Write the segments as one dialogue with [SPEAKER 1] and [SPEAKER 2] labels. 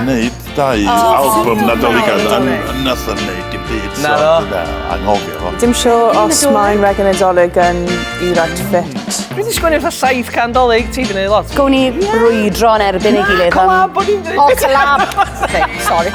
[SPEAKER 1] Wneud dau oh, album Nadoligad a nath yn neud dim byd. Na do.
[SPEAKER 2] Anghofio fo. Dim
[SPEAKER 1] sio os
[SPEAKER 3] mae'n rhaid yn Nadolig yn i right fit. Fi wedi sgwini fatha
[SPEAKER 2] saith can dolyg, ti wedi neud lot. Gwn i brwydro
[SPEAKER 4] yn erbyn ei gilydd. Collab, o'n i'n dweud. O,
[SPEAKER 2] collab.
[SPEAKER 4] Sorry.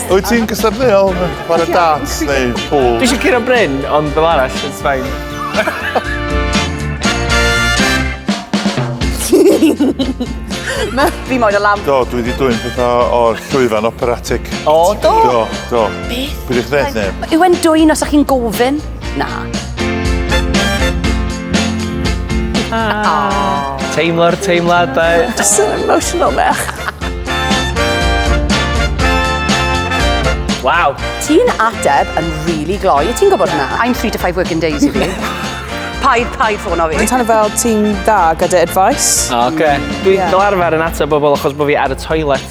[SPEAKER 1] Wyt ti'n gystadleuol yn chwarae darts neu pool? Dwi eisiau curo Bryn,
[SPEAKER 2] ond fel arall, it's fine.
[SPEAKER 4] Fi moed o lamp. Do, dwi wedi dwy'n pethau
[SPEAKER 1] o'r llwyfan operatic. O, do? Do,
[SPEAKER 4] do. Beth?
[SPEAKER 1] Beth ydych chi'n dweud, neb? Yw e'n dwy'n os ydych chi'n
[SPEAKER 4] gofyn? Na. Ah.
[SPEAKER 2] Teimlo'r teimladau. Just an emotional
[SPEAKER 3] mech.
[SPEAKER 2] Waw. Ti'n ateb
[SPEAKER 4] yn really gloi, ti'n gwybod hwnna? I'm three to five working days i fi. Paid, paid ffôn o fi. Dwi'n tannu fel ti'n
[SPEAKER 3] dda gyda advice. O, oce. Dwi'n yeah.
[SPEAKER 2] fel arfer yn ateb bobl achos bod fi ar y toilet.